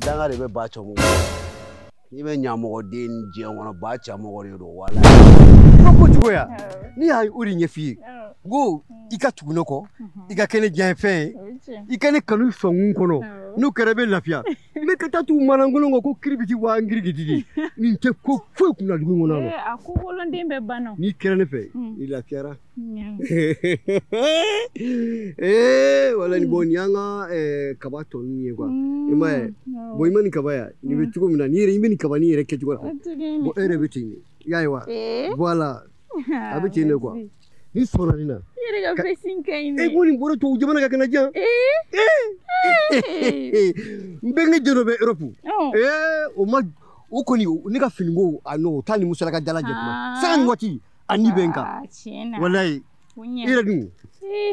danga de bɛ ba cɛmɔgɔ n'i bɛ ɲamɔgɔden ni diɲɛ kɔnɔ ba cɛmɔgɔ de don wala i ka ko cogoya ne ye o de ɲɛf'i ye n ko i ka tugu ne kɔ i ka kɛ ne diɲɛ fɛn ye i ka ne kanu sɔnkun kɔnɔ n'o kɛra i bɛ lafiya ne ka taa tugu manankolon kɔ ko kiribiti waa ngirigididi nin tɛ ko foyi kunna dugu in kɔnɔ eh, a ko woloden bɛɛ banna n'i kɛra ne fɛ hmm. i lafiyara eh, wala nin bon ni an ka eh, kaba tɔ ninnu ye kuwa hmm, i ma ye bɔn i ma nin kaba ye nin bɛ hmm. cogo min na n'i yɛrɛ i bɛ nin kaba ni yɛrɛ kɛcogo la bɔn e yɛrɛ bɛ ten de i y'a ye wa voilà a bɛ ten de kuwa ne sɔnna nin na i yɛrɛ ka fɛsin ka ɲi dɛ e ko nin bolo tubabu jamana ka kɛnɛ jan n bɛnkɛ den dɔ bɛ europe o ma o kɔni ne ka finiko a n'o taa ni musalaka jala jɛ kuma sanga ni waati a ni bɛ n kan walayi i yɛrɛ dun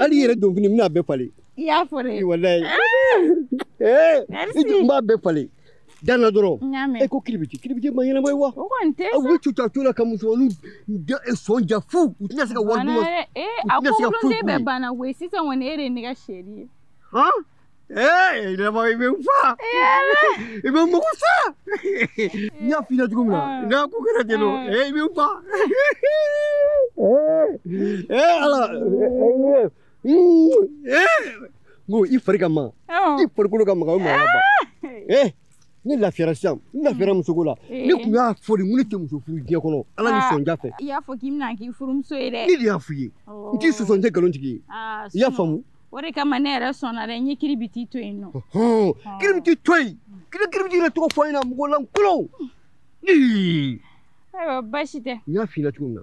hali i yɛrɛ donfini n bɛna bɛɛ falen i y'a fɔ dɛ walayi n b'a bɛɛ falen dan na dɔrɔn e ko kiribiti kiribiti ma ɲɛnama ye wa aw bɛ cuta to la ka musomaninw e sɔnja fu u tɛna se ka wari duman e, a ko woloden bɛɛ banna koyi sisan kɔni e de ye ne ka sheri ye ee yɛlɛma i bɛ n fa i bɛ n mugu sa n y'a f'i ɲɛna cogo min na n'a ko kɛra ten nɔ ee i bɛ n fa ee ala Ko i fari ka magan i farikolo ka magan o maa ba ee ne lafira sisan n lafira muso la ne tun y'a fɔ de ne tɛ muso furu diɲɛ kɔnɔ ala ni sɔnja fɛ i y'a fɔ k'i bɛ ne k'i furumuso ye dɛ ne de y'a f'i ye n t'i sɔsɔ n tɛ nkalon tigi ye i y'a faamu o de kama ne yɛrɛ sɔnna dɛ n ye kiribiti to yen nɔ kiribiti to yen kiri kiribiti yɛrɛ tɔgɔ fɔ an ɲɛna mɔgɔ lankolon ayiwa baasi tɛ n y'a f'i la cogo min na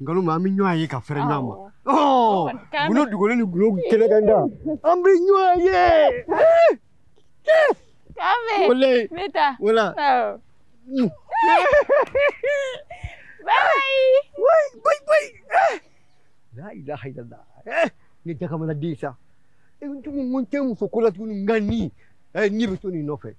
nkalon ma an bɛ ɲɔgɔn ye ka fɛrɛ ɲɔgɔn ma gundo dogolen ni gundo kɛnɛkanda an bɛ ɲɔgɔn ye k'ame ne ta wala bayi bayi bayi bayi la ilaha illallah ne dakamana den sa n tun ko n tɛ muso ko la tuguni nka ni ne bɛ to nin nɔfɛ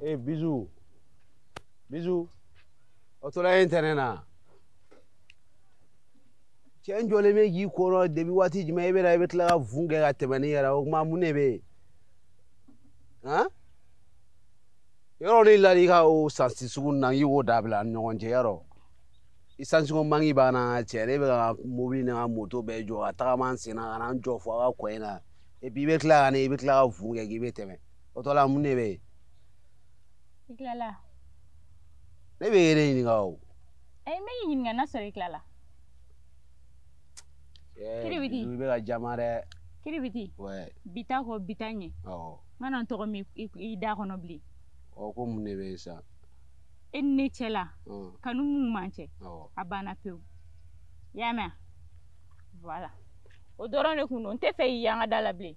ee bizu bizu o tora ye ntɛnɛn na cɛ n jɔlen bɛ k'i kɔnɔ debi waati jumɛn i bɛ na i bɛ tila ka fun kɛ ka tɛmɛ n'i yɛrɛ o tuma mun de bɛ yen han yɔrɔ ni la i ka o sansi sugu na i y'o dabila ni ɲɔgɔn cɛ yɔrɔ i sansigo mangi b'an na cɛ ne bɛ n ka mobili ni n ka moto bɛɛ jɔ ka tagama n sen na ka na n jɔ fo a ka kɔ in na epi i bɛ tila ka ne i bɛ tila ka fun kɛ k'i bɛ tɛmɛ o tɔ la mun de bɛ yen. i tilala. ne b'i yɛrɛ ɲininka o. ayi n bɛ k'i ɲininka n'a sɔrɔ i tilala. kiribiti i bɛ ka jama dɛ. kiribiti. wɛ. bi ta kɔ bi ta ɲɛ. awɔ. n kana n tɔgɔ mɛn i da kɔnɔ bilen. ɔ ko mun de bɛ yen sisan. e ni ne cɛ la. kanu mun b'an cɛ. awɔ. a banna pewu. i y'a mɛn wa. voilà o dɔrɔn de kun don n tɛ fɛ k'i y'an ka da la bilen.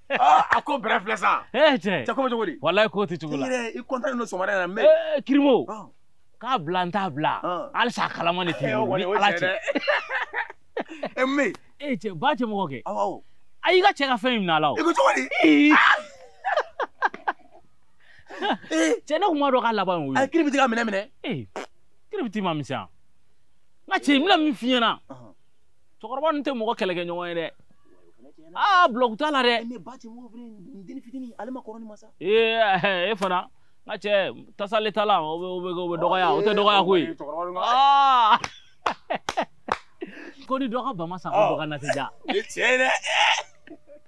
Ah, a ko bɛrɛ filɛ sa ee cɛ cɛ ko bɛ cogo di walayi k'o tɛ cogo la i kɔntan don sɔgɔmada in na mɛ eh, kirimo ah. k'a bila n t'a bila ah. halisa a kalama de tɛ eh, ni ala cɛ e mɛ ee cɛ ba cɛ mɔgɔ kɛ a y'i ka cɛ ka fɛn in minɛ a la o i ko cogo di eh. cɛ ne kun b'a dɔn k'a laban ye o ye a kiribiti ka minɛ minɛ ee kiribiti man misɛn n ka cɛ n bɛna min f'i ɲɛna cɛkɔrɔba ninnu tɛ mɔgɔ kɛlɛkɛ ɲɔgɔn ye dɛ aa bulɔku t'a la dɛ ee e fana n ka cɛ tasale t'a la o bɛ o bɛ o bɛ dɔgɔya o tɛ dɔgɔya koyi aa ko ni dɔ ka ba ma sa ko dɔ ka na tɛ diya o ye tiɲɛ ye dɛ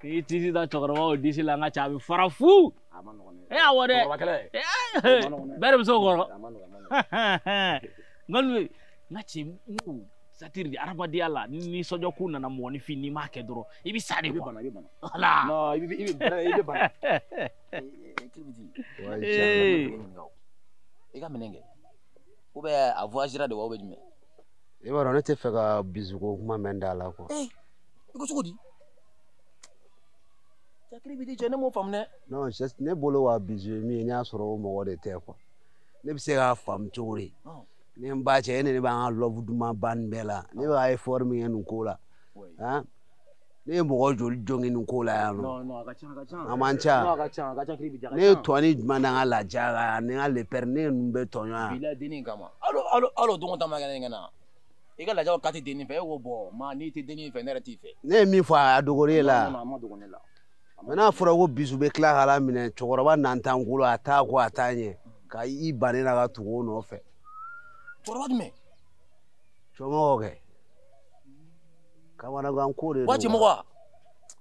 k'i disi da cɛkɔrɔbaw disi la n ka cɛ a bɛ fara fu e awɔ dɛ bɛɛ de bɛ se o kɔrɔ nka n ka cɛ n ko satiri de adamadenya la ni nisɔndiya ko nana mɔgɔninfin n'i m'a kɛ dɔrɔn i bɛ sa de quoi wala i bɛ bana i bɛ bana i ka minɛn kɛ ou bien a voyagera de wa ou bien jumɛn i b'a dɔn ne tɛ fɛ ka bizuko kuma mɛn i da la quoi. ee eh, i ko cogo di. a kiribiti cɛ ne m'o faamu dɛ. non ne bolo wa bizu ye min ye ne y'a sɔrɔ o mɔgɔ de tɛ quoi ne bɛ se k'a faamu cogo di. ne n ba cɛ e ni ne b'an ka love duman ban nin bɛɛ la ne bɛ efɔri min kɛ nin ko la. ne ye mɔgɔ joli jogin nin ko la yan non a man ca ne ye tɔni jumɛn na n ka laja la yan ni n ka lepɛri ne ninnu bɛ tɔɲɔ yan alo don ta ma kɛ ne kana i ka lajaw kati denni fɛ e ko bɔ ma n'i tɛ denni fɛ ne yɛrɛ t'i fɛ ne ye min fɔ a dogori e la mɛ n'a fɔra ko bizu bɛ tila ka la minɛ cɛkɔrɔba nantan kolon a ta kɔ a ta ɲɛ ka i ban ne na ka tugu o nɔfɛ cɛkɔrɔba jumɛn cɛmɔgɔ kɛ kamanagan ko de don waati mɔgɔ wa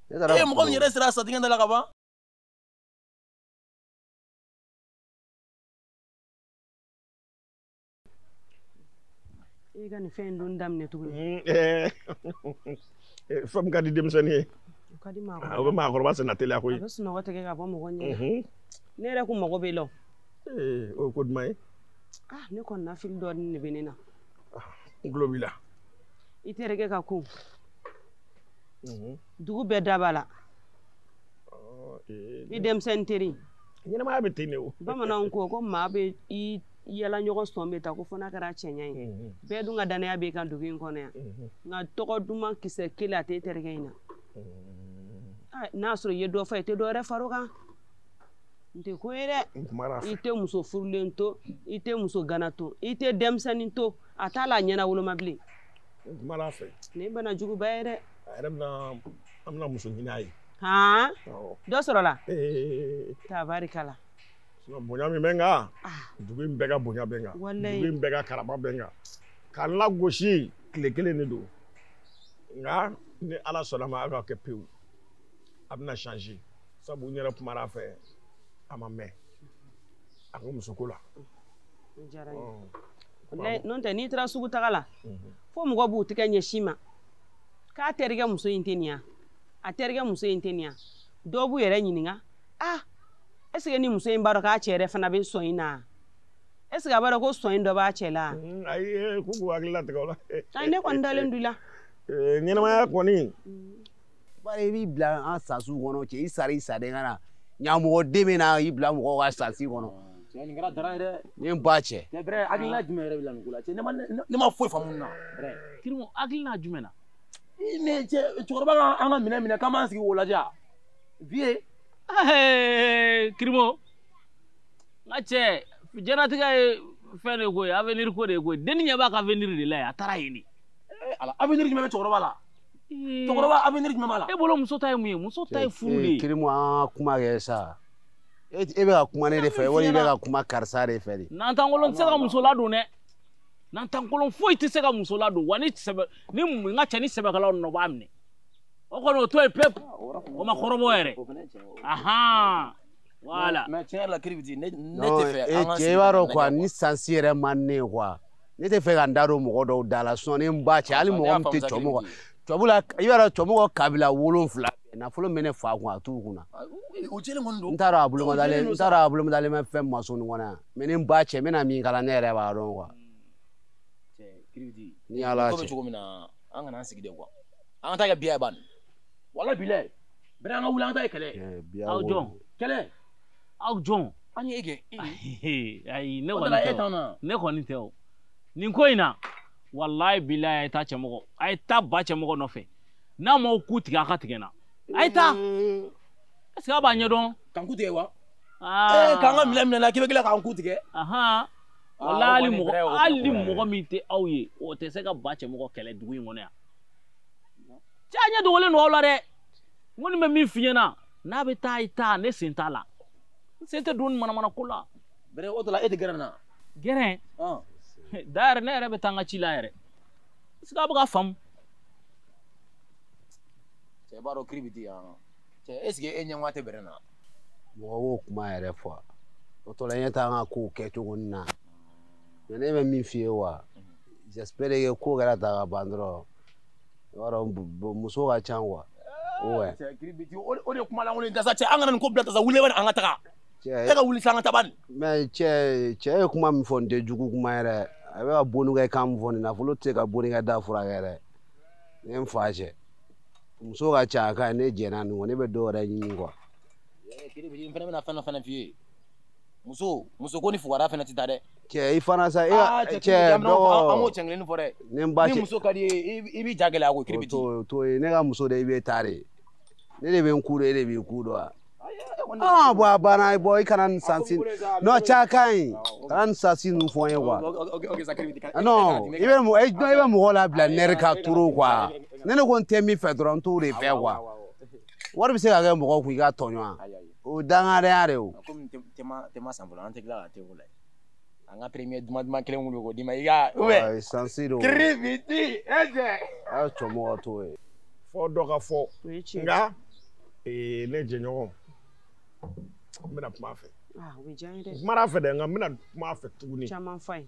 ne taara e ye mɔgɔ min yɛrɛ sera a sa dingɛ da la ka ban i ka nin fɛn in don daminɛ tuguni mm, eh. eh, fɛn ka di denmisɛnnin ye o ka di maakɔrɔba ah, o bɛ maakɔrɔba senna teliya koyi a bɛ sunɔgɔ tigɛ ka bɔ mɔgɔ ɲɛ mhm. ne yɛrɛkun mago b'i la o eh, o ye ko duman ye ah, ne kɔnɔnafili dɔɔnin de bɛ ne na n ah, tulo b'i la i terikɛ ka ko mhm. dugu bɛɛ da b'a la eh, i denmisɛnnin teri ɲɛnamaya bɛ ten de o bamananw ko ko maa bɛ i yaalaɲɔgɔn sɔn bɛɛ ta ko fo n'a kɛra cɛɲa ye mhm. bɛɛ dun ka danaya b'i kan dugu in kɔnɔ yan mhm. nka tɔgɔ duman kisɛ kelen a tɛ terikɛ in na ah, n'a sɔrɔ i ye dɔ fɔ i tɛ dɔ wɛrɛ far'o kan n tɛ ko ye dɛ i tɛ muso furulen to i tɛ muso gana to i tɛ denmisɛnnin to a t'a la a ɲɛnawoloma bilen n kumana a fɛ nin bana juguba ye dɛ a yɛrɛ bɛna an bɛna muso ɲini a ye han dɔ sɔrɔla tabarikala bonya min bɛ n kan ah. dugu in bɛɛ ka bonya bɛ n kan dugu in bɛɛ ka karama bɛ n kan ka n lagosi tile kelen de don nka ni ala sɔnna a ma a ka kɛ pewu a bɛna changer sabu n yɛrɛ kumara a fɛ a ma mɛn a ko musoko la. n'o tɛ n'i taara sugu taga la mhm. fo mɔgɔw b'u tɛgɛ ɲɛsin i ma k'a terikɛ muso in tɛ nin yan a terikɛ muso in tɛ nin yan dɔw b'u yɛrɛ ɲininka ah ɛseke nin muso in b'a dɔn k'a cɛ yɛrɛ fana bɛ sɔn in na ɛseke a b'a dɔn ko sɔn in dɔ b'a cɛ la mhm, ayi eh, k'u k'u hakili latigɛ o la ayi ne kɔni dalen don i la eh, ɲɛnamaya kɔni mm. bari i b'i bila an sasiw kɔnɔ cɛ i sara i saden ka na ɲamɔgɔden bɛna i bila mɔgɔw ka sasi kɔnɔ cɛ nin kɛra dara ye dɛ ne ba cɛ cɛ brɛ hakilina jumɛn yɛrɛ bɛ la nin ko la cɛ ne ma ne ma foyi faamu nin na brɛ kirimu hakilina jumɛn na ne cɛ cɛkɔrɔba ka an ka minɛ minɛ k'an b'an sigi k'o lajɛ a vie kirimu n ka cɛ jɛnatigɛ ye fɛn de ko ye avenir ko de ye ko ye dennin ɲɛ b'a ka avenir de la ye a taara yen de eh, ala avenir jumɛn bɛ cɛkɔrɔba la cɛkɔrɔba avenir jumɛn b'a la e bolo muso ta ye mun ye muso ta ye furu de ye kirimu an ka kuma kɛ sa e bɛ ka kuma ne de fɛ wali i bɛ ka kuma karisa de fɛ de nantankolon tɛ se ka muso ladon dɛ nantankolon foyi tɛ se ka muso ladon wa ni sɛbɛ ni n ka cɛ ni sɛbɛkɛlaw nɔ b'a minɛ o kɔni o to yen pewu o ma kɔrɔbɔ yɛrɛ ahan wala mɛ tiɲɛ yɛrɛ la kiribiti ne tɛ fɛ an ka e cɛ i b'a dɔn quoi ni sansi yɛrɛ man di ne ye quoi ne tɛ fɛ ka n da don mɔgɔ dɔw da la sinɔn ne n ba cɛ hali mɔgɔ min tɛ cɔ mɔgɔ tɔbula i b'a dɔn tɔmɔgɔ kabila wolonfila nafolo bɛ ne fa kun a t'u kunna n t'a dɔn a bolomadalen n t'a dɔn a bolomadalen bɛ fɛn maso nin kɔnɔ yan mɛ ni n ba cɛ n bɛna min kala ne yɛrɛ b'a dɔn quoi ni ala cɛ cogo min na an kana an sigi de quoi an ka taa kɛ biya ye ban wala bilɛ bɛrɛ an ka wuli an ka taa kɛ kɛlɛ aw jɔn kɛlɛ aw jɔn an ye kɛ ayi ne kɔni tɛ o ne kɔni tɛ o nin ko in na walayi bilayi a ye taa cɛmɔgɔ a ye taa ba cɛmɔgɔ nɔfɛ n'a m'aw ku tigɛ a ka tigɛ na a ye taa est ce que a b'a ɲɛdɔn k'an ku tigɛ wa ee k'an ka minɛn minɛ la k'i bɛ tila k'an ku tigɛ wala hali mɔgɔ hali mɔgɔ min tɛ aw ye o tɛ se ka ba cɛmɔgɔ kɛlɛ dugu in kɔnɔ yan cɛ a ɲɛ dogolen don aw la dɛ n kɔni bɛ min f'i ɲɛna n'a bɛ taa i taa ne sen t'a la n sen tɛ don nin manamana ko la bɛrɛ o tɔla e tɛ gɛrɛ na gɛrɛ da yɛrɛ ne yɛrɛ bɛ taa n ka ci la yɛrɛ est ce que a bɛ k'a faamu cɛ b'a dɔn kiri bɛ di yan cɛ est ce que e ɲɛngoya tɛ bɛrɛ na mɔgɔ b'o kuma yɛrɛ fɔ o tɔla a ye taa an ka kow kɛ cogo nin na mɛ ne bɛ min f'i ye wa j'espère que ko kɛra ta ka ban dɔrɔn i b'a dɔn muso ka ca quoi o de kuma lankolon dasa cɛ an kana nin ko bila dasa wuli bani an ka taga e ka wuli sa an ka taa bani mɛ cɛ cɛ ye kuma min fɔ nin tɛ jugu kuma yɛrɛ a bɛ ka bonikɛ kan min fɔ nin nafolo tɛ se ka bonikɛ da furakɛ yɛrɛ ne ye n fa cɛ muso ka ca a ka ne jɛnna nin kɔ ne bɛ dɔ wɛrɛ ɲini quoi n fana bɛna fɛn dɔ fana f'i ye muso muso ko ni fugara fana tɛ taa dɛ cɛ i fana sa e ah, cɛ dɔgɔ an b'o cɛ kelen fɔ dɛ ni n ba cɛ ni muso ka d'i ye i b'i ja gɛlɛya ko kiri bi to to ye ne ka muso de i bɛ taa de ne de bɛ n ku de e de b'i ku dɔn wa aa bɔn a banna i bɔ i kana nin sansi n'o ca ka ɲi kana nin sansi ninnu fɔ n ye quoi non i bɛ mɔgɔ i bɛ mɔgɔ labila nɛri ka turu quoi ne ne ko n tɛ min fɛ dɔrɔn n t'o de fɛ quoi wari bɛ se ka kɛ mɔgɔ kun i ka tɔɲɔgɔn o dangadenya de ye o komi te ma san fɔlɔ an tɛ tila ka te wuli an ka premier duman duman kelen wuli k'o d'i ma i ka ubɛ sansi don kiri biti ɛjɛ a ye cɛmɔgɔ t'o ye fɔ dɔ ka fɔ nka ne jɛɲɔgɔn n bɛna kuma a fɛ n kumana a fɛ dɛ nka n bɛna kuma a fɛ tuguni caman fa ye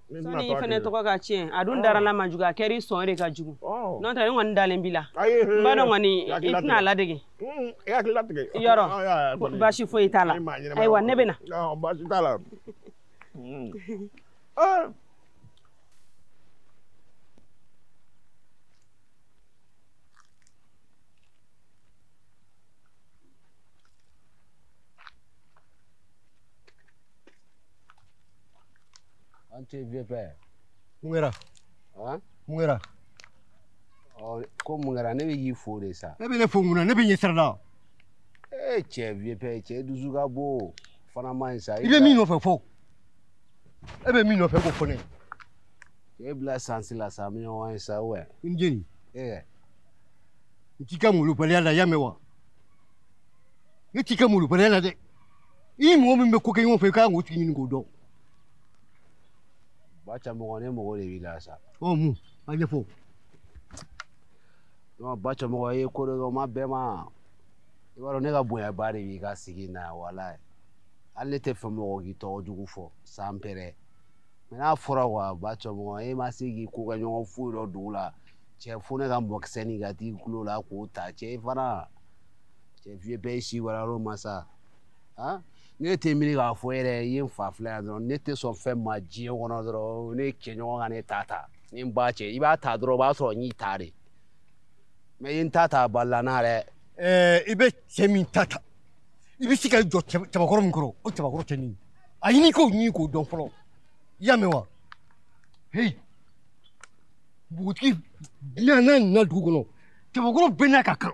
sani i fana tɔgɔ ka tiɲɛ a dun dara n'a man jugu a kɛra i sɔn de ka jugu n'o tɛ ne kɔni dalen b'i la n b'a dɔn kɔni i tɛna a ladege yɔrɔ baasi foyi t'a la ayiwa ne bɛ na baasi t'a la An tɛ vieux père. Mun kɛra? Han? Mun kɛra? Ɔ ko mun kɛra ne bɛ k'i fo de sa. E bɛ ne fo mun na? Ne bɛ ɲɛ sira la. Ee cɛ vieux père cɛ dusu ka bon fana man ɲi sa. I bɛ min nɔfɛ fɔ. E bɛ min nɔfɛ k'o fɔ ne ye. E bila sansi la sa mi ɲɔgɔn ye sa ou bien? N jeni. Ee. N t'i ka molobaliya la i y'a mɛn wa? Ne t'i ka molobaliya la dɛ. i ni mɔgɔ min bɛ ko kɛ ɲɔgɔn fɛ i kan k'o tigi ɲini k'o dɔn. bataramɔgɔ ne mɔgɔ de b'i la sa. ɔ mun a ɲɛfɔ. non bataramɔgɔ ye ko dɔ kɛ o ma bɛɛ ma i b'a dɔn ne ka bonyaba de b'i ka sigi in na walayi hali ne t'a fɛ mɔgɔ k'i tɔgɔ jugu fɔ san pɛrɛ mɛ n'a fɔra wa bataramɔgɔ e ma se k'i kokɛɲɔgɔn foyi dɔn dugu la cɛ fo ne ka mɔkisɛ nin ka t'i tulo la k'o ta cɛ i fana. cɛ vieux bɛɛ si wala yɔrɔ ma sa han ne tɛ miiri k'a fɔ yɛrɛ i ye n fa filɛ yan dɔrɔn ne tɛ sɔn fɛn ma diɲɛ kɔnɔ dɔrɔn ne cɛɲɔgɔn ka ne ta ta ni n ba cɛ i b'a ta dɔrɔn o b'a sɔrɔ n y'i ta de mɛ i ye n ta ta a balala n na dɛ ɛɛ i bɛ cɛ min ta ta i bɛ se ka jɔ cɛba- cɛbakɔrɔ min kɔrɔ o cɛbakɔrɔ tɛ nin ye a ɲini k'o ɲini k'o dɔn fɔlɔ i y'a mɛn wa heyi npogotigi bɛna n'a nana dugu kɔnɔ cɛbakɔrɔ bɛɛ n'a ka kan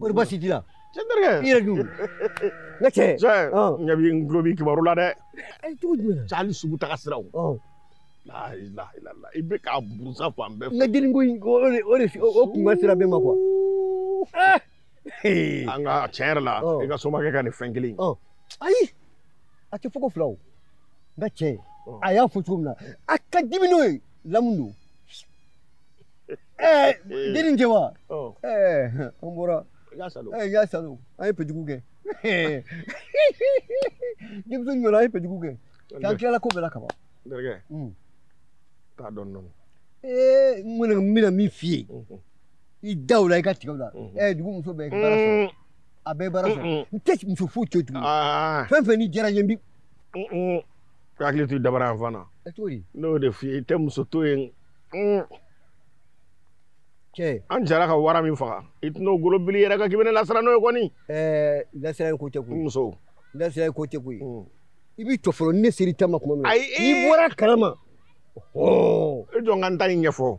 Kɔri baasi t'i la cɛ terikɛ i yɛrɛ dun n ka cɛ cɛ n ɲɛ b'i n tulo b'i kibaru la dɛ cogo jumɛn cɛ hali sugu taga siraw i bɛ k'a buruja fan bɛɛ fɛ n ka dennin ko in o de o de o kun ka sira bɛ ma kuwa an ka tiɲɛ yɛrɛ la i ka somakɛ ka nin fɛn kelen ayi a tɛ fɔ ko fila o n ka cɛ a y'a fɔ cogo min na a ka dimi n'o ye lamu don ɛɛ eh, den nin wa oh. eh, an bɔra y'a salo eh, y'a salo an ye pejugu kɛ denmuso ɲɔna an ye pejugu kɛ k'an tilala ko bɛɛ la kaban n terikɛ hmm. taa dɔɔni dɔɔni ee n kɔni n bɛna min f'i ye mhm. i da o la i ka tigɛ o la mhm. ɛɛ dugu muso bɛɛ baara sɔrɔ mm. a bɛɛ baara sɔrɔ mm, mm. n tɛ muso foyi to tuguni ah. fɛn fɛn ni diyara n ye n bi hakili to dabara yan fana n'o de f'i ye i tɛ muso to yen cɛ an jɛra ka wara min faga i tɛn'o golo bili i yɛrɛ kan k'i bɛ ne lasiran n'o ye kɔni ɛɛ lasiranni ko tɛ koyi muso lasiranni ko tɛ koyi hmm. i b'i jɔ fɔlɔ ne sera i ta ma tuma min na n'i bɔra a kalama e jɔ n ka n ta in ɲɛfɔ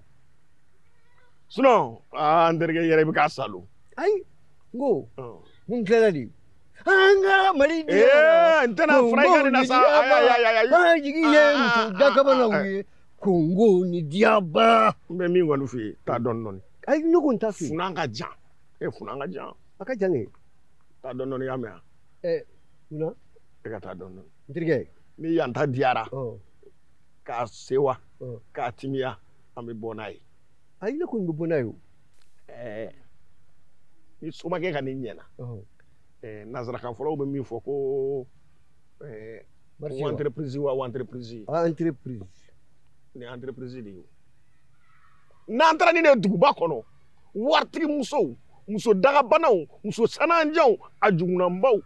sinɔn aa n terikɛ yɛrɛ i bɛ k'a salo ayi n ko hmm. n tilala de an ka mali di n tɛna fura i ka nin na sa ayi ayi ayi ayi jigi ye muso dakabanaw ye kongo ni diaba n bɛ min kɔni f'i ye taa dɔɔni dɔɔni ayi ne ko n t'a f'i ye funan ka jan e funan ka jan a ka jan kɛ taa dɔɔni dɔɔni y'a mɛn wa ɛ munna e ka taa dɔɔni dɔɔni n terikɛ ni an ta diyara ka sewa ka timiya an bɛ bɔ n'a ye ayi ne kɔni bɛ bɔ n'a ye o ɛɛ ni somakɛ ka nin ɲɛna ɛɛ nansarakan fɔlaw bɛ min fɔ ko Eh, o entreprise wa o entreprise ye ah, entreprise nin entreprise de ye n'an taara ni ne ye duguba kɔnɔ waritigi musow muso dagabanaw muso sananjanw a jukunanbaw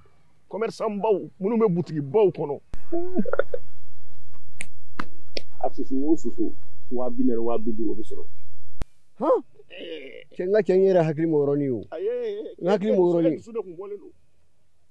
kɔmɛrisanbaw minnu bɛ butigibaw kɔnɔ a susu o susu waa bi naani waa bi duuru o bɛ sɔrɔ cɛ n ka cɛ n yɛrɛ hakili ma yɔrɔnin o n hakili ma yɔrɔnin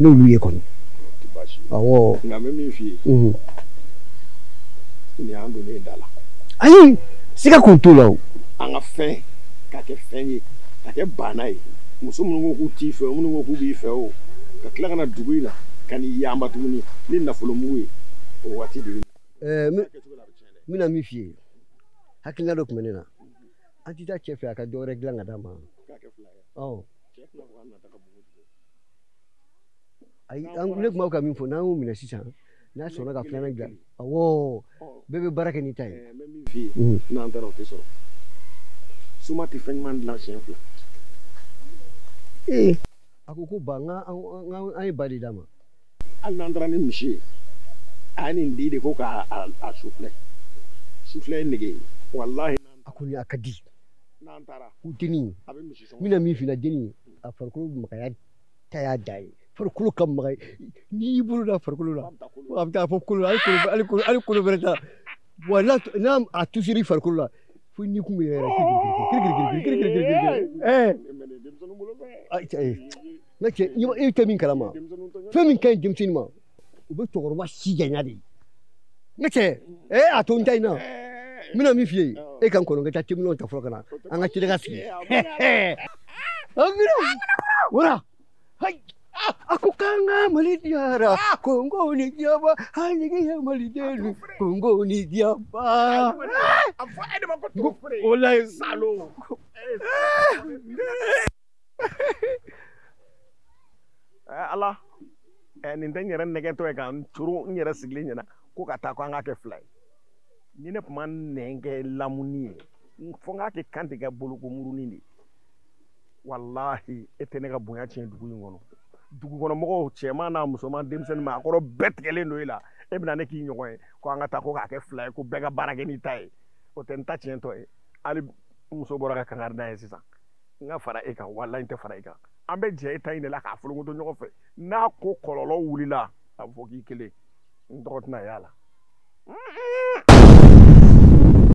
n'olu ye kɔni awɔ nka n bɛ min f'i ye nin y'an donnen da la ayi siga kun t'o la o an ka fɛn ka kɛ fɛn ye ka kɛ baana ye muso minnu ko k'u t'i fɛ o minnu ko k'u b'i fɛ o ka tila ka na dugu in na ka n'i yanba tuguni ni nafolo mugu ye o waati de ɛɛ n bɛna min f'i ye hakilina dɔ tun bɛ ne na an tɛ taa cɛ fɛ a ka dɔ wɛrɛ dilan ka d'an ma ɔ ayi an ne tun b'a fɛ ka min fɔ n'an y'o minɛ sisan n'a sɔnna ka filanan dilan awɔ bɛɛ bɛ baara kɛ n'i ta ye. n bɛ min f'i ye n'an taara o tɛ sɔrɔ soma tɛ fɛn ɲuman dilan siɲɛ fila. ee a ko ko ba n ka an ye ba de d'a ma. hali n'an taara ni misi ye a ye nin di de ko k'a a sifilɛ sifilɛ ye nege ye walahi. a ko ni a ka di. n'an taara. ko denni n bɛna min f'i la denni. a farikolo magaya ta y'a dan ye farikolo ka magan n'i y'i bolo da farikolo la a bɛ taa fo kolo hali kolo bɛrɛ t'a wa n'a a tusiri farikolo la fo n'i kun bɛ yɛrɛ ne cɛ i tɛ min kalama fɛn min ka ɲi denmisɛnnin ma o bɛ cɛkɔrɔba si janya de n ka cɛ ee a to n ta in na n bɛna min f'i ye e ka n kɔnɔ n ka taa teminɛnw ta fɔlɔ ka na an ka tila ka sigi wara a ko k'an ka mali diyara kongo ni diyaba an jigi ye mali den kongo ni diyaba o la ye salo eh, ala eh, nin tɛ n yɛrɛ nɛgɛntɔ ye ka n coron n yɛrɛ sigilen ɲɛ na ko ka taa ko an k'a kɛ fila ye ni ne tun ma nin kɛ lamuni ye fo n k'a kɛ kan tigɛ bolokomurunin de walahi e tɛ ne ka bonya tiɲɛ dugu in kɔnɔ dugu kɔnɔ mɔgɔw cɛman n'a musoman denmisɛn ni maakɔrɔ bɛɛ tigɛlen don e la e bɛna ne k'i ɲɔgɔn ye ko an ka taa ko k'a kɛ fila ye ko bɛɛ ka baara kɛ n'i ta ye o tɛ n ta tiɲɛtɔ ye hali muso bɔra ka kangari da ye sisan n ka fara e kan walayi n tɛ fara e kan an bɛ jɛ e ta in de la k'a folokoto ɲɔgɔn fɛ n'a ko kɔlɔlɔ wulila a bɛ fɔ k'i kelen n tɔgɔ tɛna y'a la